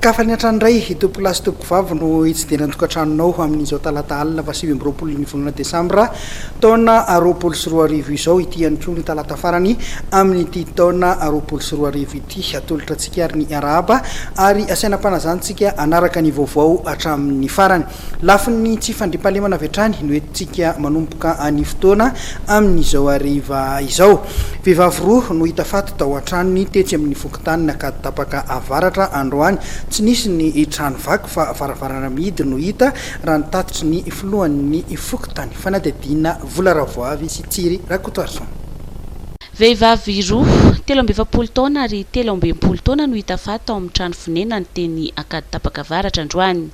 Ankafan'ny hatrany indray, tompokolahy sy tompokovavy no hitsidihana ny tokantranonao amin'izao talata alina fahasivy amby roapolo ny volana desambra taona roapolo sy roa arivo izao. Ity ihany koa no talata farany amin'ity taona roapolo sy roa arivo ity. Ity hatolotra antsika ary ny arahaba ary asaina am-panazanintsika hanaraka ny vaovao hatramin'ny farany. Lafin'ny tsy fandriampahalemana avy hatrany no entintsika manomboka ny fotoana amin'izao hariva izao. Vehivavy roa no hita faty tao an-tranony tetsy amin'ny fokontany Nakaditapaka Avaratra androany. Tsy nisy ny trano vaky fa varavarana mihidy no hita raha ny tatitry ny filohan'ny fokontany fanadihadiana Vola Ravoavy sy Tsiry Rakotoarison. Vehivavy roa, telo amby efapolo taona ary telo amby enimpolo taona no hita faty tao amin'ny trano fonenany teny Ankaditapaka Avaratra androany.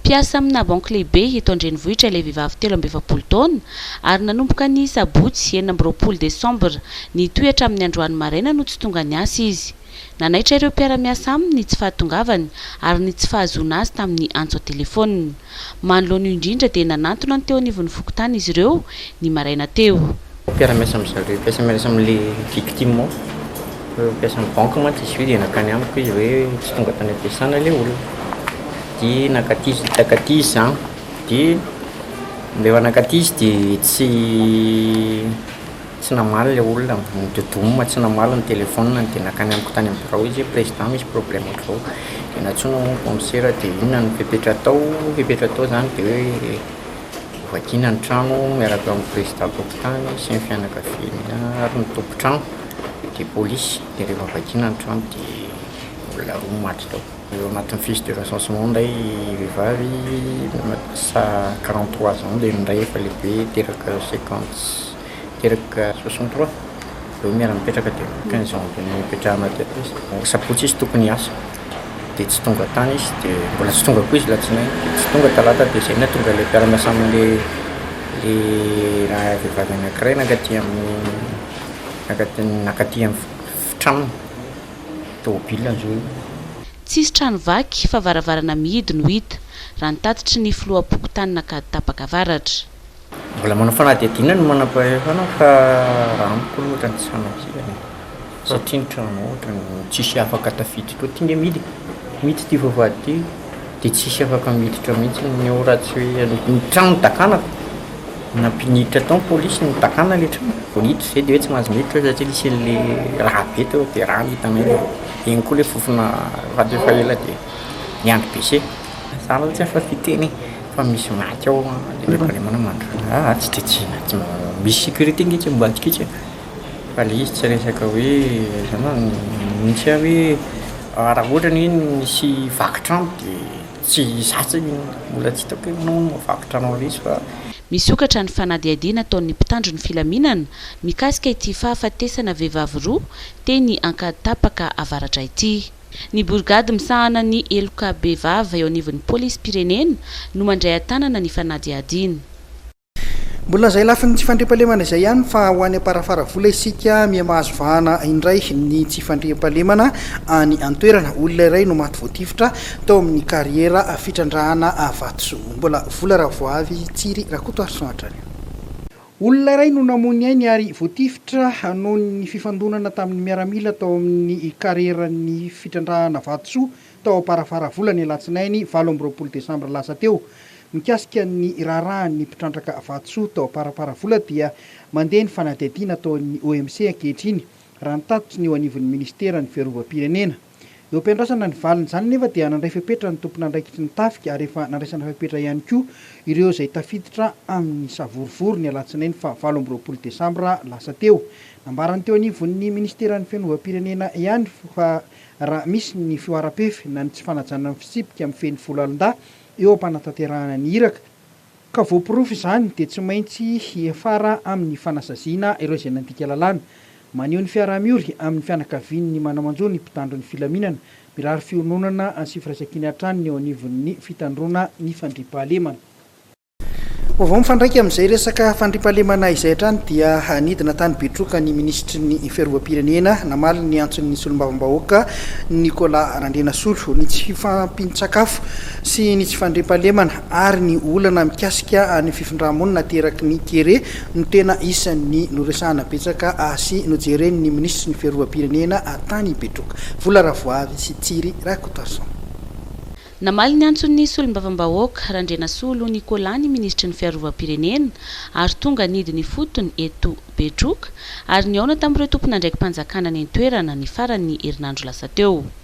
Mpiasa amina banky lehibe eto an-drenivohitra ilay vehivavy telo amby efapolo taona ary nanomboka ny sabotsy enina amby roapolo desambra nitohy hatramin'ny androany maraina no tsy tonga niasa izy. Nanaitra ireo mpiara-miasa aminy ny tsy fahatongavany ary ny tsy fahazoana azy tamin'ny antso an-telefaonina. Manoloana io indrindra dia nanantona ny teo anivon'ny fokontany izy ireo ny maraina teo. Mpiara-miasa amin-dry zareo, mpiasa miarasa amin'ilay victime ao, mpiasan'ny banky mantsy izy io dia nankany amiko izy hoe tsy tonga tany am-piasana ilay olona dia nankaty izy, nankaty izy zany dia rehefa nankaty izy dia tsy. Tsy namaly ilay olona ambony de doum tsy namaly ny telephone-ny de nakany amiko tany amin'ny birao izy hoe président misy problème ohatr'izao de nantsoina hono commissaire de inona no fepetra atao fepetra atao zany de hoe hovakiana ny trano miaraka amin'ny président tokontany sy ny fianakaviany ary ny tompontrano de polisy de rehefa vakiana ny trano de olona roa no maty tao eo anatin'ny fils de recensement indray vehivavy sa quarante trois ans dia ny iray efa lehibe teraka cinquante Teraka soixante trois reo miara mipetraka de quinze janvier no hipetrahana aty atosy. Sabotsy izy tokony hiasa de tsy tonga tany izy de mbola tsy tonga koa izy latsinainy de tsy tonga talata de zay nahatonga le mpiara-miasa aminy le raha vehivavy anakiray nankaty aminy nankaty aminy tranony tomobilina zo io. Tsisy trano vaky fa varavarana mihidy no hita, raha ny tatitry ny filoham-pokontany Ankaditapaka Avaratra. Mbola manao fanadihadiana ny manampahefana fa raha amiko aloha ohatran'ny tsy fanafihana e. Satria ny trano ohatran'ny tsisy afaka tafiditra ao. Ty nge miditra, miditra ty vavahady ty dia tsisy afaka miditra mihitsy ny ao raha tsy hoe ny trano no dakana fa nampiditra tao ny polisy no dakana ilay trano vao niditra izay dia hoe tsy mahazo miditra eo satria nisy an'ilay rà be teo dia rà no hitanay. Dia iny koa ilay fofona faty efa ela dia miandry bese. Za aloha tsy afa fiteny e fa misy maty ao de le problème anao mandroso ah ah tsy de tsy misy sécurité nge tsy ambadika etsy e fa le izy tsy resaka hoe zany hoe mihitsy ah hoe raha ohatra ny hoe misy vaky trano de tsy za tsy mbola tsy hitako hoe manao mahavaky trano anle izy fa. Misokatra ny fanadihadiana ataon'ny mpitandro ny filaminana mikasika ity fahafatesana vehivavy roa teny Ankaditapaka avaratra ity. Ny borigady misahana ny heloka bevava eo anivon'ny polisim-pirenena no mandray an-tanana ny fanadihadiana. Mbola izay lafiny tsy fandriampahalemana izay ihany fa ho any Amparafaravola isika miha mahazo vahana indray ny tsy fandriampahalemana any an-toerana. Olona iray no maty voatifitra tao amin'ny kariera fitrandrahana vatosoa. Mbola vola raha vao avy Tsiry Rakotoarison hatrany. Olona iray no namoy ny ainy ary voatifitra noho ny fifandonana tamin'ny miaramila tao amin'ny kareran'ny fitrandrahana vatosoa tao Amparafaravola ny alatsinainy valo amby roapolo desambra lasa teo. Mikasika ny raharahan'ny mpitrandraka vatosoa tao Amparaparavola dia mandeha ny fanadihadiana ataon'ny OMC ankehitriny, raha ny tatitry ny eo anivon'ny minisiteran'ny fiarovam-pirenena. Eo am-piandrasana ny valin'izany anefa dia nandray fepetra ny tompon'andraikitry ny tafika ary efa nandraisana fepetra ihany koa ireo izay tafiditra amin'ny savorovoro ny alatsinainy faha valo amby roapolo desambra lasa teo. Nambarany teo anivon'ny minisiteran'ny fianovam-pirenena ihany fa raha misy ny fihoaram-pefy na ny tsy fanajana ny fitsipika mifehy ny foloalindahy eo am-panatanterahana ny iraka Ka voaporofo izany dia tsy maintsy hiafara amin'ny fanasaziana ireo izay nandika lalàna. Maneho ny fiaraha-miory amin'ny fianakaviany ny manamanjo ny mpitandro ny filaminana, mirary fiononana sy firaisankina hatrany ny eo anivon'ny fitandroana ny fandriampahalemana. Vaovao mifandraika amin'izay resaka fandriampahalemana izay hatrany dia nidina tany Betroka ny minisitry ny Fiarovam-pirenena namaly ny antson'ny solombavambahoaka Nicolas Randrianasolo. Ny tsy fifampin-tsakafo sy ny tsy fandriampahalemana ary ny olana mikasika ny fifindrà-monina ateraky ny kere no tena isan'ny noresahana betsaka sy nojeren'ny minisitry ny Fiarovam-pirenena tany Betroka, Vola Ravoavy sy Tsiry Rakotason. Namaly ny antson'ny solombavambahoaka, Randrianasolo Nicolas ny minisitry ny Fiarovam-pirenena ary tonga nidy ny fotony eto Betroka ary nihaona tamin'ireo tompon'andraiki-panjakana any an-toerana ny faran'ny herinandro lasa teo.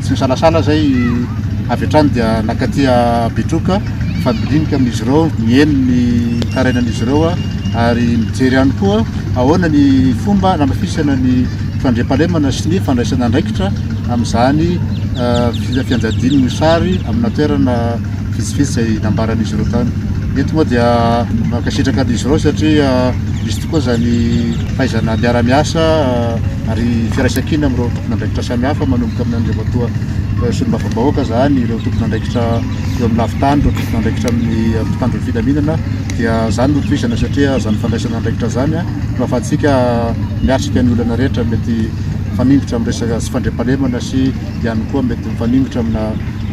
Tsy misalasala izay avy hatrany dia nankaty Betroka fandinika amin'izy ireo, niely ny tarainan'izy ireo ary nijery ihany koa ahoana ny fomba nanafisana ny fandriampahalemana sy ny fandraisana andraikitra amin'izany fianjadian'ny mosary amina toerana vitsivitsy izay nambaran'izy ireo tany. Eto moa dia mankasitraka an'izy ireo satria misy tokoa izany fahaizana miara-miasa ary firaisan-kina amin'ireo tompon'andraikitra samihafa manomboka amin'ny Andriamatoa Solombavambahoaka izany, ireo tompon'andraikitra eo amin'ny lafin-tany, ireo tompon'andraikitra amin'ny mpitandro ny filaminana dia izany no tohizana satria izany fandraisana andraikitra izany no ahafahantsika miatrika ny olana rehetra mety mifaningotra amin'ny resaka tsy fandriampahalemana sy ihany koa mety mifaningotra amina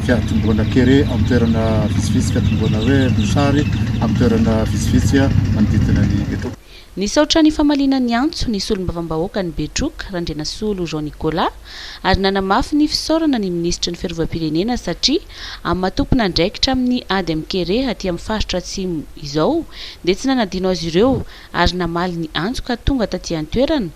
fiatombohana kere amin'ny toerana vitsivitsy, fiatombohana hoe mosary amin'ny toerana vitsivitsy manodidina ny Betroka. Nisaotra ny famaliana ny antso ny solombavambahoakan'i Betroka, Randrianasolo Jean Nicolas, ary nanamafy ny fisaorana ny minisitry ny Fiarovam-pirenena satria amin'ny maha tompon'andraikitra amin'ny ady amin'ny kere aty amin'ny faritra Atsimo izao dia tsy nanadino azy ireo ary namaly ny antso ka tonga taty an-toerana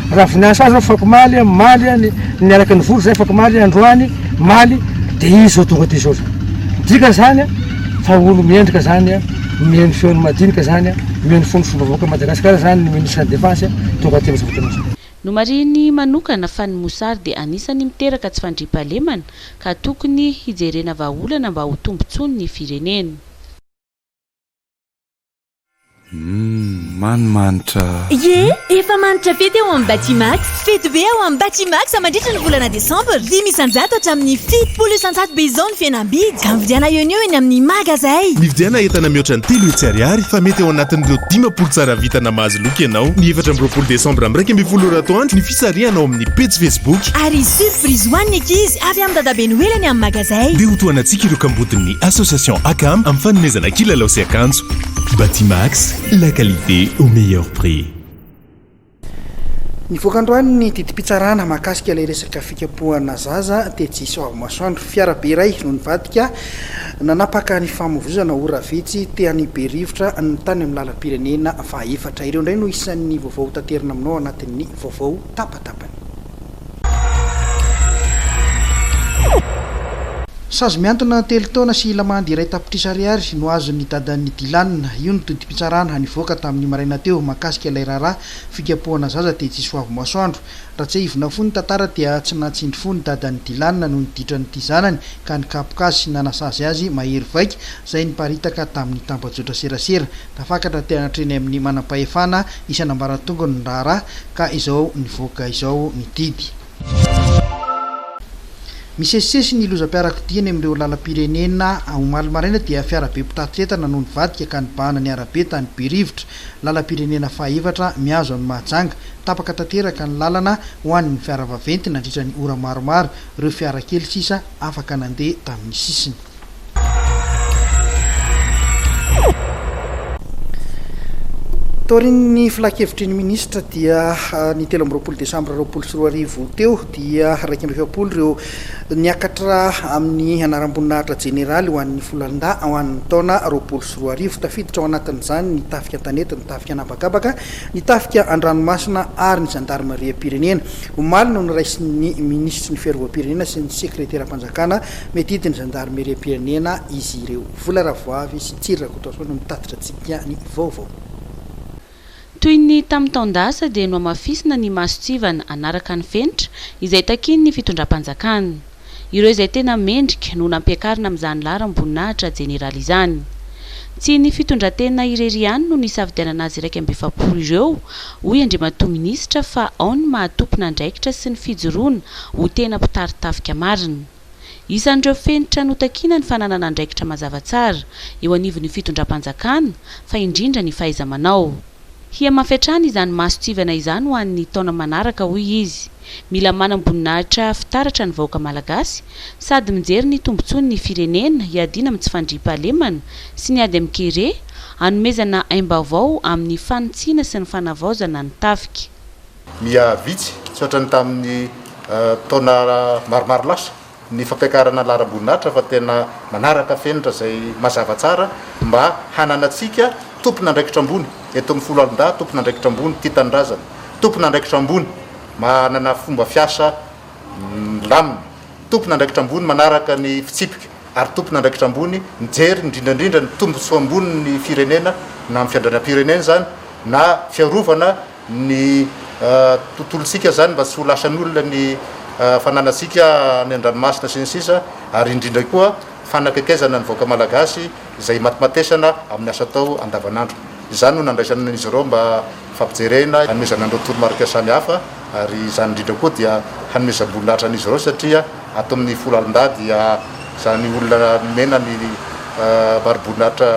Raha vinasa azy afakomaly a, maly a, ny niaraka nivory zay afakomaly a, androany maly de izy zao tonga de zao zany. Midika zany a fa olo mendrika zany a, mihaino ny feony madinika zany a, mihaino ny fony fomba vahoaka Madagascar zany ny ministre defense a, tonga aty amzao fotoana zao. Nomarihiny manokana fa ny mosary dia anisany miteraka tsy fandriampahalemana ka tokony hijerena vahaolana mba ho tombotsoan'ny firenena. Hum, man manitra. Ye, efa manitra fety ao amin'ny Batimax. Fety be ao amin'ny Batimax mandritra ny volana desambra. Dimy isan-jato hatramin'ny fitopolo isan-jato be izao ny fihenam-bidy. Ka mividiana eo anio eny amin'ny magazay. Mividiana entana mihoatra ny telo hetsy ariary fa mety ao anatin'ireo dimampolo tsara vita na mahazo loka ianao. Ny efatra amby roapolo desambra miraika ambin'ny folo ora atoandro ny. Sarihana ao amin'ny pejy Facebook. Ary hisy surprise ho an'ny ankizy avy amin'ny Dadabe Noely any amin'ny magazay. Ndeha hotohanantsika ireo kambodin'ny Association Acam amin'ny fanomezana kilalao sy akanjo. Batimax, la qualité au meilleur prix. Nivoaka androany ny didim-pitsarana mahakasika ilay resaka fikapohana zaza tetsy Soavimasoandro. Fiara be iray no nivadika. Nanapaka ny famoizana ora vitsy te hanibe rivotra ny tany amin'ny lalam-pirenena fahaefatra. Ireo indray no isan'ny vaovao hotaterina aminao anatin'ny vaovao tapatapany. Sazy mihantona telo taona sy lamandy iray tapitrisa ariary no azon'ny dadan'i Dylan. Io no todim-pitsarana nivoaka tamin'ny maraina teo mahakasika ilay raharaha fikapohana zaza tetsy Soavimasoandro. Raha tsiahivinao fony ny tantara dia tsy nahatsindry fo ny dadan'i Dylan noho ny ditran'ity zanany ka nikapoka azy sy nanasazy azy mahery vaika izay niparitaka tamin'ny tambajotra serasera. Tafakatra teo hatreny amin'ny manampahefana isan'ambaratongony ny raharaha ka izao nivoaka izao ny didy. Misesisesy ny lozam-piarakodia eny amin'ireo lalam-pirenena. Omaly maraina dia fiarabe mpitatitra entana no nivadika ka nibahana ny arabe tany Berivotra. Lalam-pirenena fahaefatra mihazo an'i Mahajanga. Tapaka tanteraka ny lalana ho an'ny fiara vaventy nandritra ny ora maromaro. Ireo fiara kely sisa afaka nandeha tamin'ny sisiny. Taorian'ny filankevitry ny minisitra dia ny telo amby roapolo desambra roapolo sy roa arivo teo dia iraika amby efapolo ireo niakatra amin'ny anaram-boninahitra jeneraly ho an'ny Folandahy ho an'ny taona roapolo sy roa arivo. Tafiditra ao anatin'izany ny tafika an-tanety, ny tafika an'habakabaka, ny tafika an-dranomasina ary ny zandarimariam-pirenena. Omaly no noraisin'ny minisitry ny Fiarovam-pirenena sy ny sekreteram-panjakana miadidy ny zandarimeriam-pirenena izy ireo. Vola Ravoavy sy Tsiry Rakotoason no mitatitra antsika ny vaovao. Toy ny tamin'ny taon-dasa dia nohamafisina ny masontsivana hanaraka ny fenitra izay takian'ny fitondram-panjakana. Ireo izay tena mendrika no nampiakarina amin'izany laharam-boninahitra jeneraly izany. Tsy ny fitondran-tena irery ihany no nisafidianana azy iraika amby efapolo ireo, hoy Andriamatoa Minisitra fa ao ny maha tompon'andraikitra sy ny fijoroana ho tena mpitari-tafika marina. Isan'ireo fenitra notakiana ny fananana andraikitra mazava tsara eo anivon'ny fitondram-panjakana, fa indrindra ny fahaiza-manao. Hihamafy hatrany izany mason-tsivana izany ho an'ny taona manaraka, hoy izy. Mila manam-boninahitra fitaratra ny vahoaka malagasy, sady mijery ny tombontsoan'ny firenena hiadiana amin'ny tsy fandriampahalemana sy ny ady amin'ny kere, hanomezana aim-baovao amin'ny fanitsiana sy ny fanavaozana ny tafika. Miha vitsy, tsy ohatra ny tamin'ny taona maromaro lasa, ny fampiakarana laharam-boninahitra fa tena manaraka fenitra izay mazava tsara mba hananantsika tompon'andraikitra ambony eto amin'ny foloalindahy, tompon'andraikitra ambony tia tanindrazana, tompon'andraikitra ambony manana fomba fiasa milamina, tompon'andraikitra ambony manaraka ny fitsipika ary tompon'andraikitra ambony mijery indrindra indrindra ny tombontsoa ambonin'ny firenena, na amin'ny fiandrianam-pirenena izany na fiarovana ny tontolontsika izany mba tsy ho lasan'olona ny fananantsika any an-dranomasina sy ny sisa ary indrindra koa fanakaikezana ny vahoaka malagasy izay imatimatesana amin'ny asa atao andavan'andro. Izany no nandraisana an'izy ireo mba fampijerena hanomezana an'ireo toromarika samy hafa ary izany indrindra koa dia hanomezam-boninahitra an'izy ireo satria ato amin'ny folo alin-dahy dia izany olona nomena ny mariboninahitra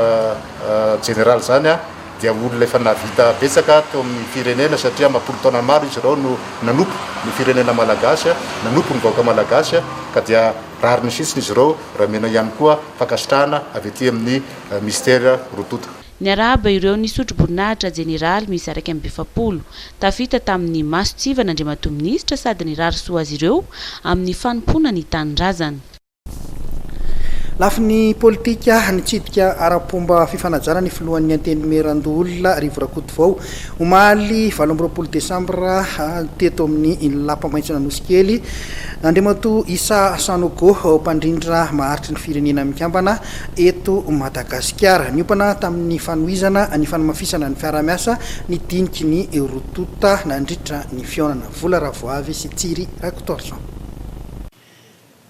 jeneraly izany dia olona efa nahavita betsaka teo amin'ny firenena satria amapolo taona maro izy ireo no nanompo ny firenena malagasy, nanompo ny vahoaka malagasy ka dia rariny fitsiny izy ireo raha omena ihany koa fankasitrahana avy aty amin'ny Mister Rototo. Niarahaba ireo nisotro boninahitra Jeneraly miisa iraika amby efapolo. Tafita tamin'ny masontsivana Andriamatoa Minisitra sady nirary soa azy ireo amin'ny fanompoana ny tanindrazana. Lafiny politika, nitsidika ara-pomba fifanajana ny filohan'ny Antenimierandoholona, Rivo Rakotovao, omaly valo amby roapolo desambra, teto amin'ny Lapamaintson'Anosikely, Andriamatoa Issa Sanogo, mpandrindra maharitry ny Firenena Mikambana eto Madagasikara. Niompana tamin'ny fanohizana ny fanamafisana ny fiaraha-miasa ny diniky ny roa tonta nandritra ny fihaonana, Vola Ravoavy sy Tsiry Rakotoarison.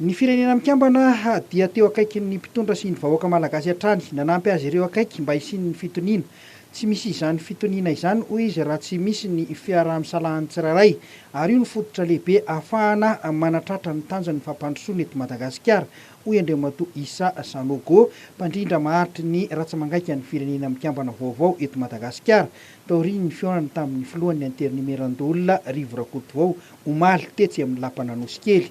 Ny Firenena Mikambana dia teo akaikin'ny mpitondra sy ny vahoaka malagasy hatrany, nanampy azy ireo akaiky mba hisian'ny fitoniana. Tsy misy izany fitoniana izany, hoy izy, raha tsy misy ny fiaraha-misalahan'ny tsirairay, ary io no fototra lehibe ahafahana manatratra ny tanjon'ny fampandrosoana eto Madagasikara, hoy Andriamatoa Issa Sanogo, mpandrindra maharitry ny ratsamangaika ny Firenena Mikambana vaovao eto Madagasikara, taorian'ny fihaonany tamin'ny filohan'ny Anterinemerandoholona Rivo Rakotovao, omaly, tetsy amin'ny lapan'Anosikely.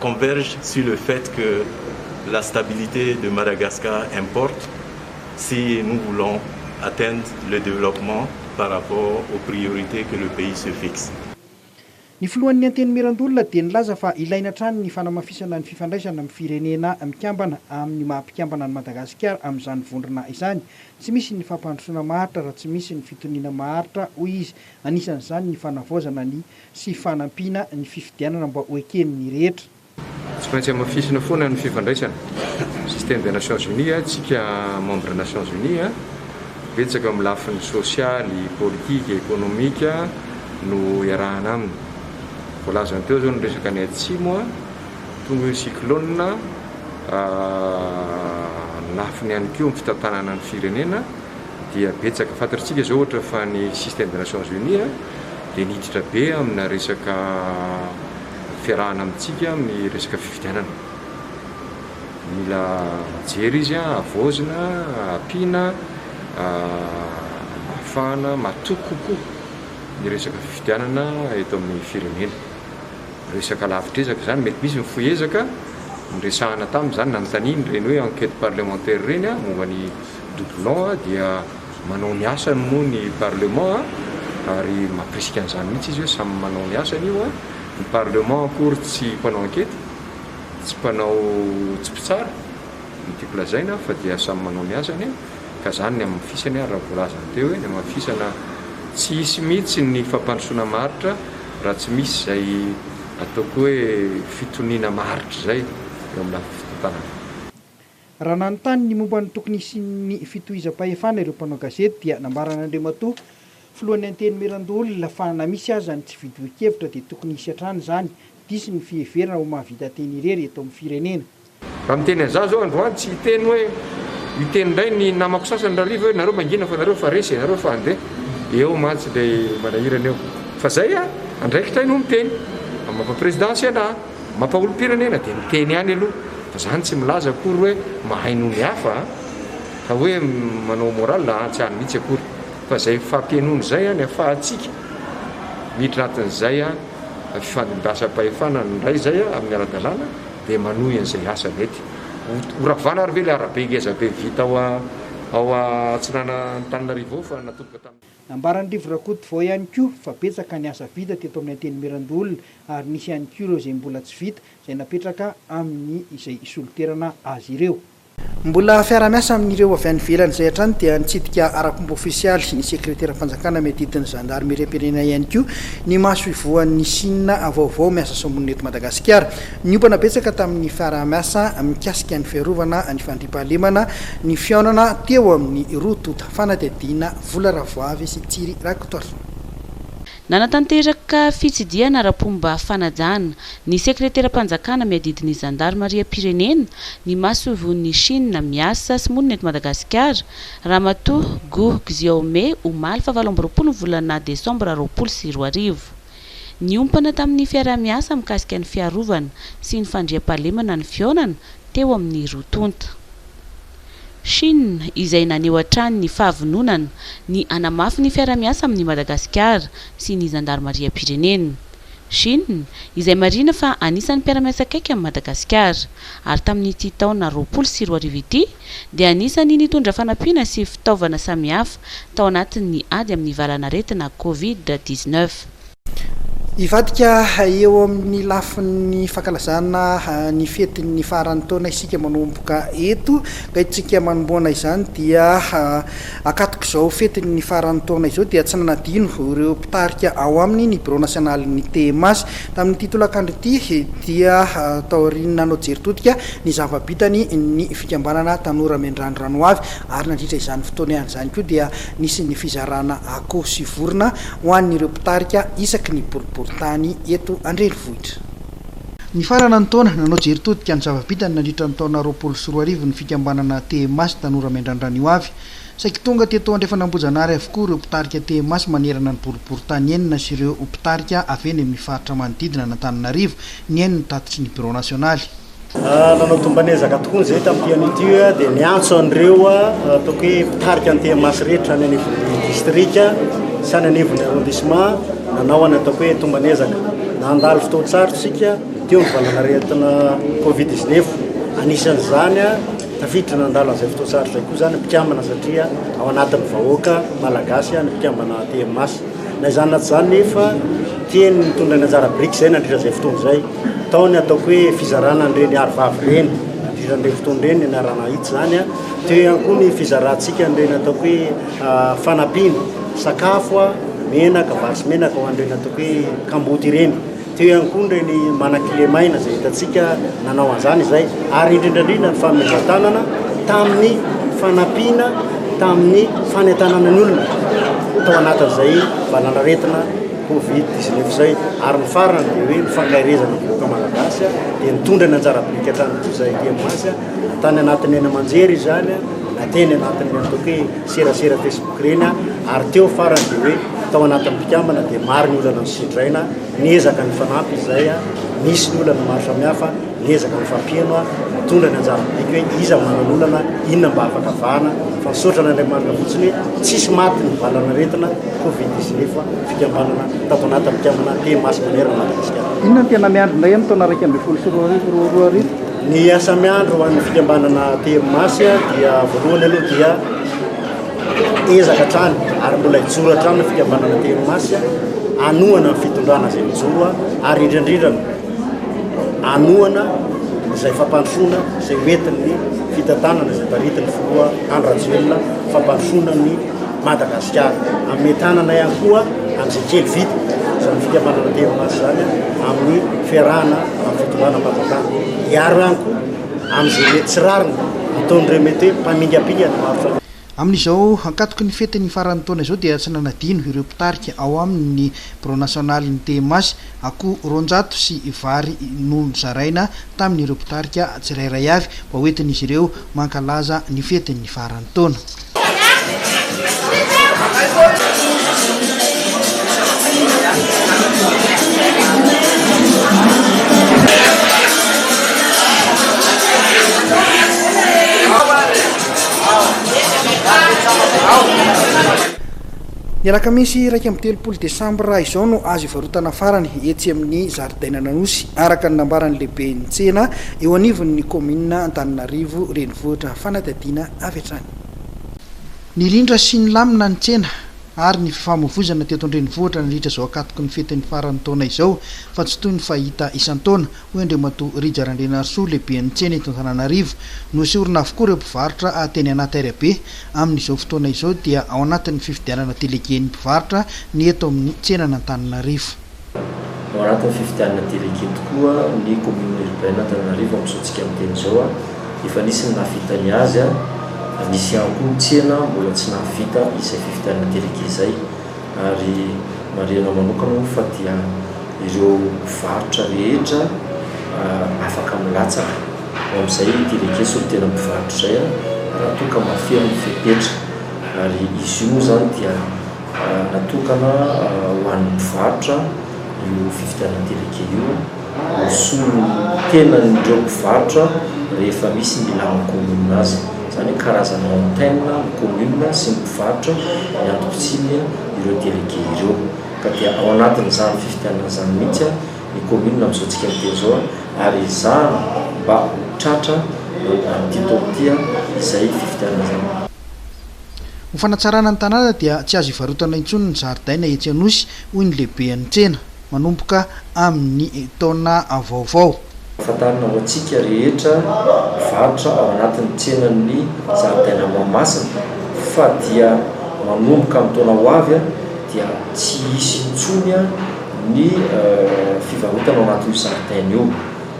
Converge sur le fait que la stabilité de Madagascar importe si nous voulons atteindre le développement par rapport aux priorités que le pays se fixe. Ny filohan'ny Antenimierandoholona dia nilaza fa ilaina hatrany ny fanamafisana ny fifandraisana amin'ny firenena mikambana amin'ny maha mpikambana an'i Madagasikara amin'izany vondrona izany. Tsy misy ny fampandrosoana maharitra raha tsy misy ny fitoniana maharitra, hoy izy. Anisan'izany ny fanavaozana ny sy fanampiana ny fifidianana mba ho eken'ny rehetra. Tsy maintsy hamafisina foana ny fifandraisana, système des Nations Unies, antsika membre Nations Unies. Betsaka amin'ny lafiny sosialy, politika, ekonomika no iarahana aminy. Voalazany teo izao ny resaka any Atsimo, tonga io ny cyclone, ny lafiny ihany koa amin'ny fitantanana ny firenena. dia betsaka fantatritsika izao ohatra fa ny système des nations unies dia niditra be amina resaka fiarahana amintsika amin'ny resaka fifidianana. Mila mijery izy, havaozina, ampiana, ahafahana matoky kokoa ny resaka fifidianana eto amin'ny firenena. Resaka lavitr'ezaka izany, mety misy ny fohy ezaka, niresahana taminy izany, nanontaniany ireny hoe enquête parlementaire ireny momba ny Doublon dia manao ny asany moa ny parlement ary mampirisika an'izany mihitsy izy hoe samy manao ny asany io an! Ny parlement akory tsy mpanao ankety, tsy mpanao tsy mpitsara no tiako lazaina fa dia samy manao ny asany an! Ka izany ny hamafisany ary raha voalazany teo hoe ny hamafisana tsy hisy mihitsy ny fampandrosoana maharitra raha tsy misy izay ataoko hoe fitoniana maharitra izay eo amin'ny lafiny fitantanana. Raha nanontany ny momba ny tokony hisian'ny fitohizam-pahefana ireo mpanao gazety dia nambaran'Andriamatoa Filohan'ny Antenimierandoholona fa na misy aza ny tsy fidohan-kevitra dia tokony hisy hatrany izany, diso ny fiheverana ho mahavita teny irery eto amin'ny firenena. Raha miteny an'izaho izao androany tsy hiteny hoe, hiteny indray ny namako sasany rariva hoe nareo mangina fa nareo efa resy e, nareo efa handeha, eo mantsy ilay manahirana eo. Fa izay an, andraikitra ahy no miteny, mampapresidansy anah. Mampaolompirenena dia miteny ihany aloha fa zany tsy milaza akory hoe mahay noho ny hafa a! ka hoe manao moral a! tsy any mihitsy akory fa zay fifampihainoana zay any afahantsika miditra atin'izay a! fifandimbiasam-pahefana ny ndray zay a! amin'ny ara-dalàna dia manohy an'izay asa mety ho ravana ary ve le arabe ngezabe vita ao a! ao a! atsinanan'Antananarivo ao fa natomboka tamin'ny Nambaran'i Rivo Rakotovao ihany koa fa betsaka ny asa vita teto amin'ny Antenimierandoholona ary nisy ihany koa ireo izay mbola tsy vita izay napetraka amin'ny izay hisoloterana azy ireo. Mbola fiara-miasa amin'ireo avy any ivelany izay hatrany dia nitsidika ara-pomba ofisialy ny Sekreteram-panjakana miadidy ny Zandarimeriam-pirenena ihany koa ny masoivohon'ny Sina vaovao miasa somonina eto Madagasikara. Niompana betsaka tamin'ny fiaraha-miasa mikasika ny fiarovana ny fandriampahalemana ny fihaonana teo amin'ny roa tonta fanadihadiana Vola Ravoavy sy Thierry Rakotoarison. Nanatanteraka fitsidihana ara-pomba fanajana ny sekreteram-panjakana miadidy ny zandarimariam-pirenena, ny masoivohon'i Chine miasa sy monina eto Madagasikara, Ramatoa Guo Xiaomei omaly fahavalo amby roapolo ny volana desambra roapolo sy roa arivo. Niompana tamin'ny fiaraha-miasa mikasika ny fiarovana sy ny fandriampahalemana ny fihaonana teo amin'ny roa tonta. Chine, izay naneho hatrany ny fahavononana ny hanamafy ny fiarahamiasa amin'i Madagasikara sy ny zandarimariam-pirenena. Chine, izay marihina fa anisan'ny mpiara-miasa akaiky amin'i Madagasikara, ary tamin'ity taona roapolo sy roa arivo ity dia anisan'ny nitondra fanampiana sy fitaovana samihafa tao anatin'ny ady amin'ny valanaretina Covid dix-neuf. Hivadika eo amin'ny lafiny fankalazana ny fetin'ny faran'ny taona isika manomboka eto ka isika manomboana izany dia ankatok'izao fetin'ny faran'ny taona izao dia tsy nanadino ireo mpitarika ao aminy ny birao nasionalin'ny TMAS tamin'ity tolakandro ity dia taorian'ny nanao jery todika ny zava-bitany ny fikambanana tanora miandrandra ny hoavy ary nandritra izany fotoana izany koa dia Nisy ny fizarana akoho sy vorona ho an'ireo mpitarika isaky ny boriborintany eto an-drenivohitra. Nifarana ny taona, nanao jery todika ny zava-bitany nandritra ny taona roapolo sy roa arivo ny fikambanana TMAS Tanora Miandrandra ny Hoavy. Saiky tonga teto Andrefan'Ambojanary avokoa ireo mpitarika TMAS manerana ny boriborintany enina sy ireo mpitarika avy eny amin'ny faritra manodidina an'Antananarivo, nihaino ny tatitry ny birao nasionaly. Nanao tombana ezaka tokoa ny ZET amin'ity an'ity hoe dia niantso an'ireo ataoko hoe mpitarika ny TMH rehetra any anivon'ny distrika sy any anivon'ny arrondissement nanao any ataoko hoe tombana ezaka. Nandalo fotoan-tsarotra isika teo ny valanaretina Covid 19. Anisan'izany tafiditra nandalo an'izay fotoan-tsarotra izay koa izany ny mpikambana satria ao anatin'ny vahoaka malagasy ny mpikambana TMH. Na izany na tsy izany nefa, tiany ny nitondra ny anjara biriky izay nandritra izay fotoana izay. Tao ny ataoko hoe fizarana an'ireny arovavy ireny, nandritra an'ireny fotoana ireny ny anarana Ahitsy izany. Teo ihany koa ny fizarantsika an'ireny ataoko hoe fanampiana, sakafo, menaka, vary sy menaka ho an'ireny ataoko hoe kamboty ireny. Teo ihany koa ireny manan-kilemaina izay hitantsika nanao an'izany izay ary indrindra indrindra ny fanomezan-tanana tamin'ny fanampiana tamin'ny fanentanana ny olona tao anatin'izay valanaretina Covid 19 izay ary ny farany dia hoe ny fankaherezana ny vahoaka malagasy dia nitondra ny anjara biriky hatrany koa izay hemoasy na tany anatin'ny haino aman-jery izany na teny anatin'ny atao hoe serasera Facebook ireny ary teo farany dia hoe tao anatin'ny mpikambana dia maro ny olana nosindraina, niezaka ny fanampy izay, nisy ny olana maro samihafa, niezaka ny fampieno, nitondra ny anjara midika hoe iza manan'olana, inona mba afaka vahana, fa misaotra an'Andriamanitra fotsiny hoe tsisy maty ny valan'aretina covid dix neuf fikambanana tao anatin'ny mpikambana He Masy Manerana Madagasikara. Inona no tena miandry indray amin'ny taona iraika ambin'ny folo sy roa arivo? Ny asa miandry ho an'ny fikambanana Tery Masy dia voalohany aloha dia ezaka hatrany ary mbola hijoro hatrany ny fikambanana Tery Masy hanohana ny fitondrana izay mijoro ary indrindrindrina hanohana izay fampandrosoana izay hoentin'ny fitantanana izay taritin'ny filoha Andry Rajoelina fampandrosoana ny Madagasikara. Ametanana ihany koa an'izay kely vita izany fikambanana Théomas izany amin'ny fiarahana amin'ny fitondrana am-panjakana. Hiaro ihany koa amin'izay mety tsy rariny ataon'ireo mety hoe mpamingapinga ny maro samihafa. Amin'izao ankatoky ny fetin'ny faran'ny taona izao dia tsy nanadino ireo mpitarika ao amin'ny birao nasionalin'ny Théomas akoho roanjato sy vary nozaraina tamin'ireo mpitarika tsirairay avy mba hoentin'izy ireo mankalaza ny fetin'ny faran'ny taona. Ny alakamisy iraika amby telopolo desambra izao no azo ivarotana farany etsy amin'ny zaridainan'Anosy, araka ny nambaran'ny lehiben'ny tsena eo anivon'ny kaominina Antananarivo Renivohitra Fanadihadiana avy hatrany. Nirindra sy nilamina ny tsena ary ny fifamoivoizana teto an-drenivohitra nandritra izao ankatoky ny fetin'ny faran'ny taona izao fa tsy toy ny fahita isan-taona, hoy Andriamatoa Rija Randrianarisoa, lehiben'ny tsena eto Antananarivo. Noesorina avokoa ireo mpivarotra teny anaty arabe. Amin'izao fotoana izao dia ao anatin'ny fifidianana delegen'ny mpivarotra ny eto amin'ny tsenan'Antananarivo. Maranty ny fifidianana delegue tokoa ny commune urbaine Antananarivo amin'izao tsika miteny izao a! efa nisy ny nahavita ny azy a! nisy ihany koa ny tsena mbola tsy nahavita izay fifidianana delegue izay ary marihana manokana moa fa dia ireo mpivarotra rehetra afaka milatsaka ho amin'izay delegue solontenan'ny mpivarotra izay a! raha toa ka mahafeno ny fepetra ary izy io moa izany dia Natokana ho an'ny mpivarotra io fividianana délégué io mba hisolo ny tenan'ireo mpivarotra rehefa misy ny ilàn'ny kaominina azy. Izany hoe karazana antenne ny kaominina sy ny mpivarotra ny antom-pisiany ireo délégué ireo. Ka dia ao anatin'izany fividianana izany mihitsy ny kaominina amin'izao antsika miteny izao ary ezahina mba ho tratra amin'ity taona ity izay fividianana izany. Ho fanatsarana ny tanàna dia tsy azo ivarotana intsony ny zaridaina etsy Anosy, hoy ny lehiben'ny tsena, manomboka amin'ny taona vaovao. Fantarina ho antsika rehetra mivarotra ao anatin'ny tsenan'ny zaridaina Mahamasina fa dia manomboka amin'ny taona ho avy dia tsy hisy intsony ny fivarotana ao anatin'io zaridaina io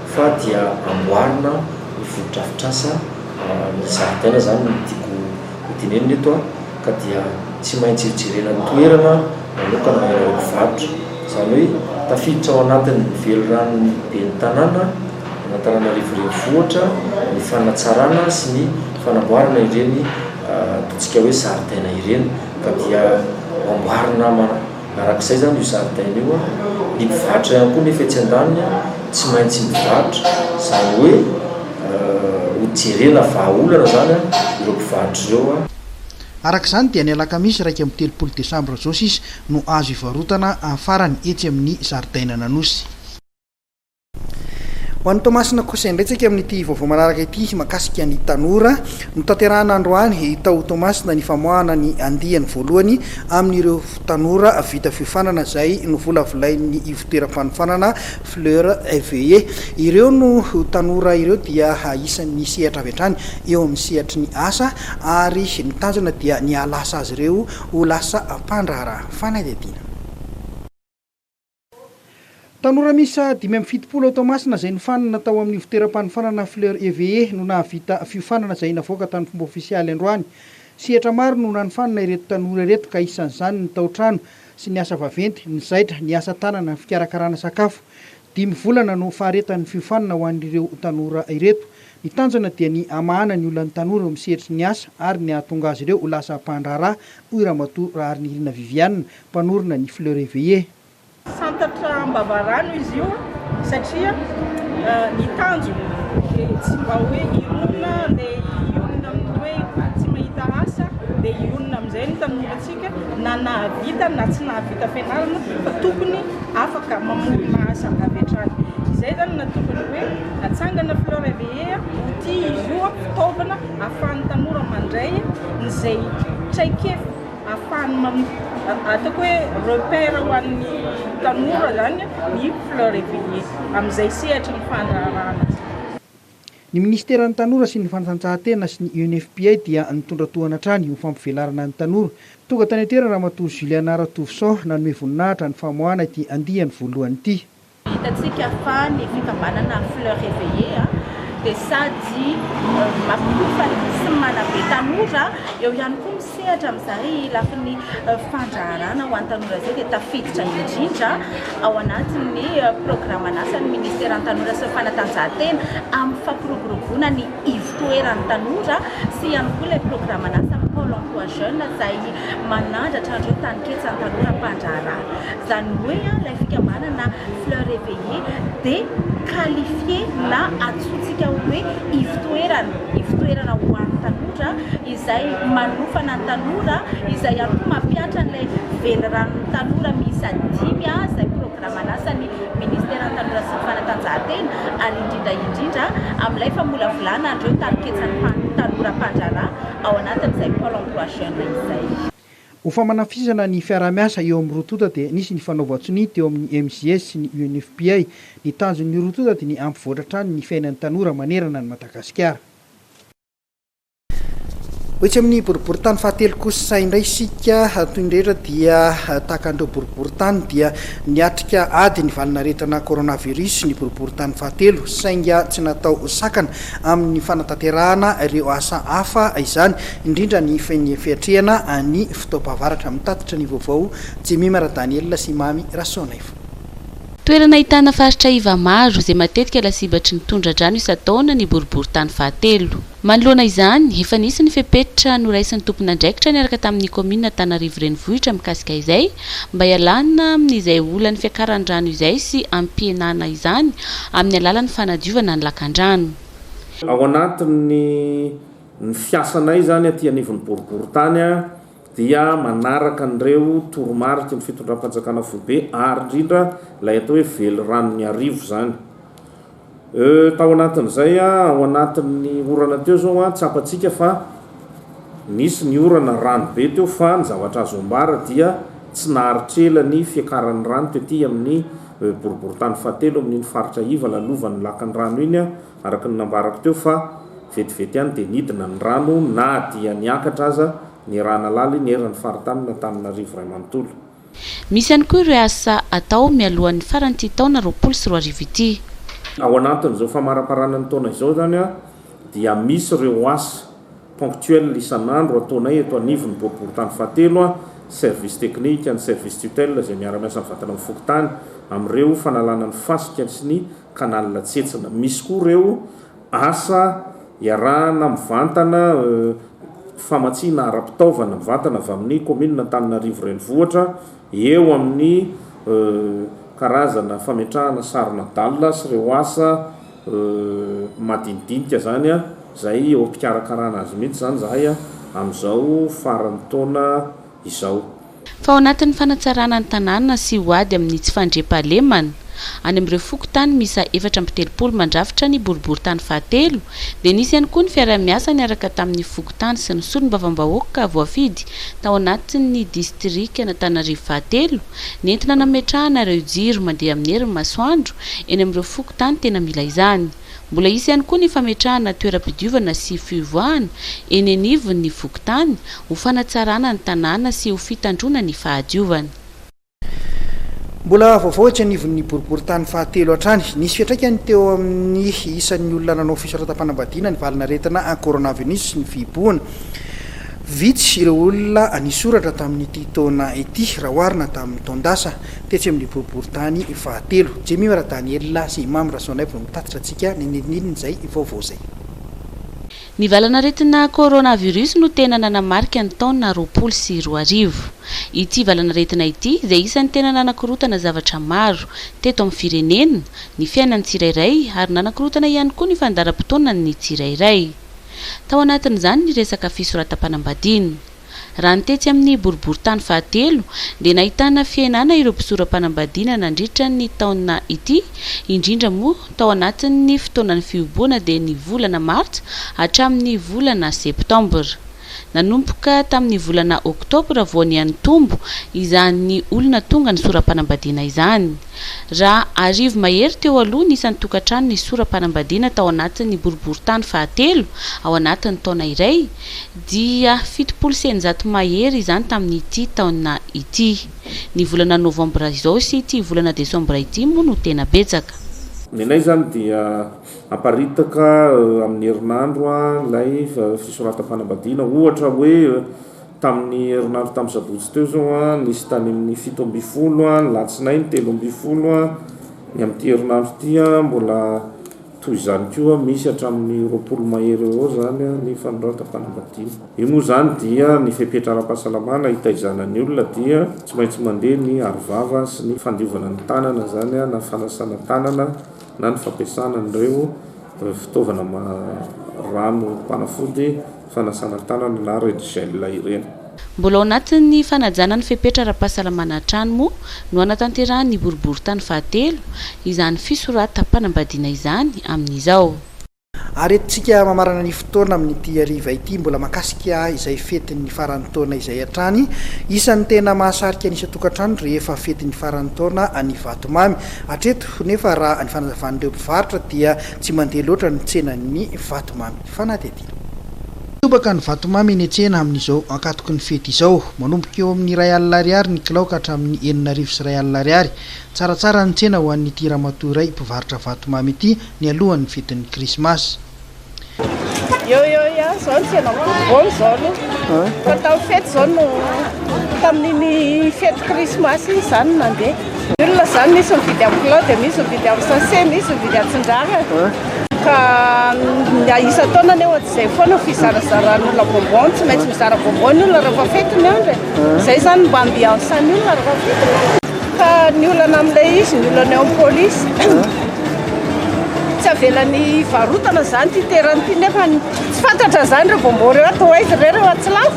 fa dia amboarina ny fotodrafitrasa Raha misy zaridaina izany no tiako ho tenenina eto ka dia tsy maintsy jerena ny toerana manokana ilay mpivarotra. Izany hoe tafiditra ao anatin'ny veliranon'ny ben'ny tanàna an'Antananarivo renivohitra ny fanatsarana sy ny fanamboarana ireny ataontsika hoe zaridaina ireny ka dia ho amboarina Araka izay izany io zaridaina io a, ny mpivarotra ihany koa nefa etsy an-daniny a, tsy maintsy mivarotra, izany hoe ho jerena vahaolana izany a, ireo mpivarotra ireo a. Araka izany dia ny alakamisy iraika amby telopolo desambra izao sisa no azo ivarotana farany etsy amin'ny zaridainan'Anosy. Ho an'i Toamasina kosa indray tsika amin'ity vaovao manaraka ity mahakasika ny tanora. Notanterahana androany tao Toamasina ny famoahana ny andiany voalohany amin'ireo tanora vita fiofanana izay novolavolain'ny ivontoeram-panofanana Fleurs Eveillées. Ireo no tanora ireo dia isan'ny sehatra avy hatrany eo amin'ny sehatry ny asa ary ny tanjona dia ny hahalasa azy ireo ho lasa mpandraharaha fanadihadiana. Tanora miisa dimy amby fitopolo ao Toamasina izay nofanina tao amin'ny ivoteram-panofanana Fleur Eveillé no nahavita fiofanana izay navoaka tamin'ny fomba ofisialy androany. Sehatra maro no nanofanana ireto tanora ireto ka isan'izany ny tao-trano sy ny asa vaventy, ny zaitra, ny asa tanana, ny fikarakarana sakafo. Dimy volana no faharetan'ny fiofanana ho an'ireo tanora ireto. Ny tanjona dia ny hamahana ny olan'ny tanora eo amin'ny sehatry ny asa ary ny hahatonga azy ireo ho lasa mpandraharaha, hoy Ramatoa Raharinirina Viviane, mpanorina ny Fleurs éveillées. Santatra am-bavarano izy io satria ny tanjony dia tsy mba hoe hirona andeha hionona amin'ny hoe tsy mahita asa dia hionona amin'izay ny tanorantsika na nahavita na tsy nahavita fianarana fa tokony afaka mamorona asa avy hatrany. Izay izany no nahatonga ny hoe natsangana Fleurs éveillées, outil izy io, fitaovana ahafahan'ny tanora mandray izay traikefa. Ahafahany mamita, ataoko hoe repère ho an'ny tanora izany ny Fleurs Eveillées amin'izay sehatry ny fandraharahana izay. Ny Minisiteran'ny Tanora sy ny Fanatanjahantena sy ny UNFPA dia nitondra tohana hatrany ho fampivelarana ny tanora. Tonga tany an-toerana Ramatoa Juliana Ratovison nanome voninahitra ny famoahana ity andiany voalohany ity. Hitantsika fa ny fikambanana Fleurs Reveillées dia sady mampitombo fahendrena sy manabe tanora, eo ihany koa misehatra amin'izay lafiny fandraharahana ho an'ny tanora izay dia tafiditra indrindra ao anatin'ny programan'asan'ny Ministeran'ny Tanora sy ny Fanatanjahantena amin'ny fampiroboroboana ny ivotoeran'ny tanora sy ihany koa ilay programan'asa ny Pôle emploi jeune izay manandratra an'ireo taninketsan'ny tanora mpandraharaha. Izany hoe ilay fikambanana Fleur Eveillée dia qualifié na antsointsika hoe ivotoerana, ivotoerana ho an'ny tanora izay manofana ny tanora, izay ihany koa mampihatra an'ilay veliranon'ny tanora miisa dimy izay programme. raha manasa ny Ministeran'ny Tanora sy ny Fanatanjahantena ary indrindra indrindra amin'ilay famolavolana an'ireo tarinketsan'ny tanora mpandraharaha ao anatin'izay Pôle Emploi Jeune izay. Ho famanafisana ny fiaraha-miasa eo amin'ny roa tonta dia nisy ny fanaovan-tsonia teo amin'ny MJS sy ny UNFPA. Ny tanjon'ny roa tonta dia ny hampivoatra hatrany ny fiainan'ny tanora manerana an'i Madagasikara. Ho etsy amin'ny boriboritany fahatelo kosa indray isika, toy ny rehetra dia tahaka an'ireo boriboritany dia niatrika ady ny valinaretina coronavirus ny boriboritany fahatelo, sainga tsy natao sakana amin'ny fanatanterahana ireo asa hafa izany, indrindra ny fiatrehana ny fotoam-pahavaratra, mitatitra ny vaovao Jemimar Daniel sy Mamy Rasoanaivo. Toerana ahitana faritra iva maro, izay matetika lasibatry ny tondra-drano isan-taona ny boriboritany fahatelo. Manoloana izany, efa nisy ny fepetra noraisin'ny tompon'andraikitra niaraka tamin'ny kaominina Antanarivo Renivohitra mikasika izay, mba hialana amin'izay olan'ny fiakaran'ny rano izay sy hampihenana izany amin'ny alalan'ny fanadiovana ny lakandrano. Ao anatin'ny ny fiasanay izany aty anivon'ny boriborintany, dia manaraka an'ireo toromariky ny fitondram-panjakana foibe ary indrindra ilay atao hoe veliranon'Iarivo izany. Tao anatin'izay, ao anatin'ny orana teo izao, tsapantsika fa nisy ny orana, rano be teo fa ny zavatra azo ambara dia tsy naharitra ela ny fiakaran'ny rano tety amin'ny boriborintany fahatelo amin'iny faritra iva lalovan'ny lakan'ny rano iny. araka ny nambarako teo fa vetivety ihany dia nidina ny rano na dia niakatra aza ny rà nalaly neran'ny faritany antananarivo iray manontolo. Misy ihany koa ireo asa atao mialohan'ny faran'ity taona roapolo sy roa arivo ity. Ao anatin'izao famaraparana ny taona izao izany dia misy ireo asa ponctuel isan'andro ataonay eto anivon'ny boriborintany fahatelo, service technique, ny service tutelle izay miara-miasa mivatana amin'ny fokontany amin'ireo fanalana ny fasika sy ny. canal tsetsina. Misy koa ireo asa iarahana mivantana famatsiana ara-pitaovana mivantana avy amin'ny kaominina Antananarivo Renivohitra eo amin'ny karazana fametrahana sarona dalina sy ireo asa madinidinika izany izay eo am-pikarakarana azy mihitsy izany izahay amin'izao faran'ny taona izao. Fa ao anatin'ny fanatsarana ny tanàna sy ho ady amin'ny tsy fandriampahalemana, any amin'ireo fokontany miisa efatra amby telopolo mandrafitra ny boriborintany fahatelo, dia nisy ihany koa ny fiaraha-miasa niaraka tamin'ny fokontany sy ny solombavambahoaka voafidy tao anatin'ny distrikan'Antananarivo fahatelo, nentina nametrahana ireo jiro mandeha amin'ny herin'ny masoandro eny amin'ireo fokontany tena mila izany. Mbola hisy ihany koa ny fametrahana toeram-pidiovana sy fiovoahana eny anivon'ny fokontany ho fanatsarana ny tanàna sy ho fitandroana ny fahadiovana. Mbola vaovao etsy anivon'ny boriborintany fahatelo hatrany, nisy fiantraikany teo amin'ny isan'ny olona nanao fisoratam-panambadiana ny valin'aretina coronavinus sy ny fihibohana. Vitsy ireo olona nisoratra tamin'ity taona ity raha oharina tamin'ny taon-dasa. Tetsy amin'ny boriborintany fahatelo, Jemima Radanielina sy Imam Rasoanaivo no mitatitra antsika ny nilinilin'izay vaovao izay. Ny valanaretina coronavirus no tena nanamarika ny taona roapolo sy roa arivo. Ity valanaretina ity dia isan'ny tena nanakorontana zavatra maro, teto amin'ny firenena, ny fiainan'ny tsirairay ary nanakorontana ihany koa ny fandaharam-potoanan'ny tsirairay. Tao anatin'izany ny resaka fisoratam-panambadiana. Raha ny tetsy amin'ny boriborintany fahatelo dia nahitana fihenana ireo mpisora-panambadiana nandritra ny taona ity, indrindra moa tao anatin'ny fotoanan'ny fihoboana dia ny volana martsa hatramin'ny volana septambra. Nanomboka tamin'ny volana oktobra vao niha-nitombo izany olona tonga nisora-panambadiana izany. Raha arivo mahery teo aloha ny isan'ny tokantrano nisora-panambadiana tao anatin'ny boriborintany fahatelo ao anatin'ny taona iray, dia fitopolo sy eninjato mahery izany tamin'ity taona ity. Ny volana novambra izao sy ity volana desambra ity moa no tena betsaka. Ny anay izany dia aparitaka amin'ny herinandro ilay fisoratam-panambadiana. Ohatra hoe tamin'ny herinandro tamin'ny sabotsy teo izao, nisy tany amin'ny fito ambin'ny folo, ny alatsinainy telo ambin'ny folo, ny amin'ity herinandro ity mbola Toy izany koa, misy hatramin'ny roapolo mahery eo ho eo izany ny fanoratam-panambadiana. Io moa izany dia ny fepetra ara-pahasalamana hitaizana ny olona dia tsy maintsy mandeha ny arovava sy ny fandiovana ny tanana izany na fanasana tanana na ny fampiasana an'ireo fitaovana rano mpanafody fanasana tanana na red gel ireny. Mbola ao anatin'ny fanajana ny fepetra ara-pahasalamana hatrany moa no hanatanterahan'ny boriborintany fahatelo izany fisoratam-panambadiana izany amin'izao. Ary eto tsika mamarana ny fotoana amin'ity hariva ity mbola mahakasika izay fetin'ny faran'ny taona izay hatrany isan'ny tena mahasarika ny isan-tokantrano rehefa fetin'ny faran'ny taona any Vatomamy. Hatreto nefa raha ny fanazavan'ireo mpivarotra dia tsy mandeha loatra ny tsenan'ny Vatomamy fanatety. Mitobaka ny vatomamy eny an-tsena amin'izao ankatoky ny fety izao. Manomboka eo amin'ny iray alina ariary ny kilao ka hatramin'ny enina arivo sy iray alina ariary. Tsaratsara ny tsena ho an'ity ramatoa iray mpivarotra vatomamy ity ny alohan'ny fetin'ny krismasy. Ny olona izany misy mividy amin'ny kilo dia misy mividy amin'ny sachet, misy mividy atsindrana ka ny isan-taona anie ohatry izay foana ny fizarazaran'ny olona bonbon, tsy maintsy mizara bonbon ny olona rehefa fety ny andro e! izay izany no mba ambiance-n'ny olona rehefa fety ny andro. Ka ny olana amin'ilay izy, ny olana eo amin'ny polisy, tsy avelany hivarotana izany ity terany ity nefa tsy fantatra izany ireo bonbon ireo atao aiza ve ireo atsilafo?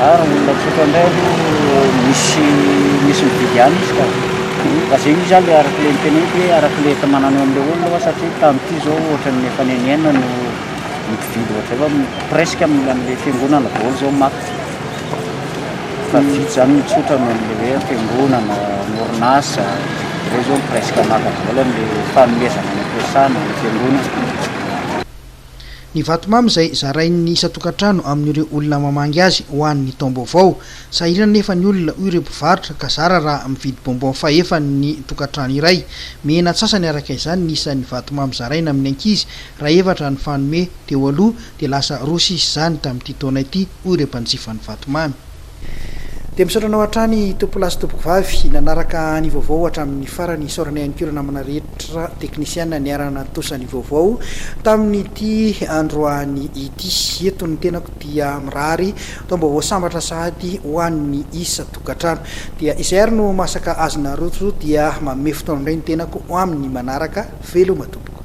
Ary ny olona tsotra indray aloha misy misy mividy ihany izy ka. Fa izay io izany ilay araka ilay noteneniko hoe araka ilay entamanana eo amin'ilay olona fa satria tamin'ity izao ohatra ny efa nenienina no ny mpividy ohatra izay fa presque amin'ny an'ilay fiangonana daholo izao maty. Fa vitsy izany ny tsotra noho an'ilay hoe fiangonana, ny orinasa, ireo izao presque maka daholo an'ilay fanomezana any am-piasana, any am-piangonana. Ny vatomamy izay zarain'ny isan-tokantrano amin'ireo olona mamangy azy ho an'ny taom-baovao. Sahirana anefa ny olona, hoy ireo mpivarotra, ka zara raha mividy bonbon fahefany ny tokantrano iray. Mihena antsasany araka izany ny isan'ny vatomamy zaraina amin'ny ankizy, raha efatra ny fanome teo aloha, dia lasa roa sisa izany tamin'ity taona ity, hoy ireo mpanjifan'ny vatomamy. Dia misaotra anao hatrany tompolahy sy tompokovavy nanaraka ny vaovao hatramin'ny farany. Isaorana ihany koa ireo namana rehetra teknisiana niara-nantosa ny vaovao tamin'ity androany ity. Eto ny tenako dia mirary taom-baovao sambatra sahady ho an'ny isan-tokantrano. Dia izay ary no masaka azy naroso dia manome fotoana indray ny tenako ho amin'ny manaraka. Veloma tompoko.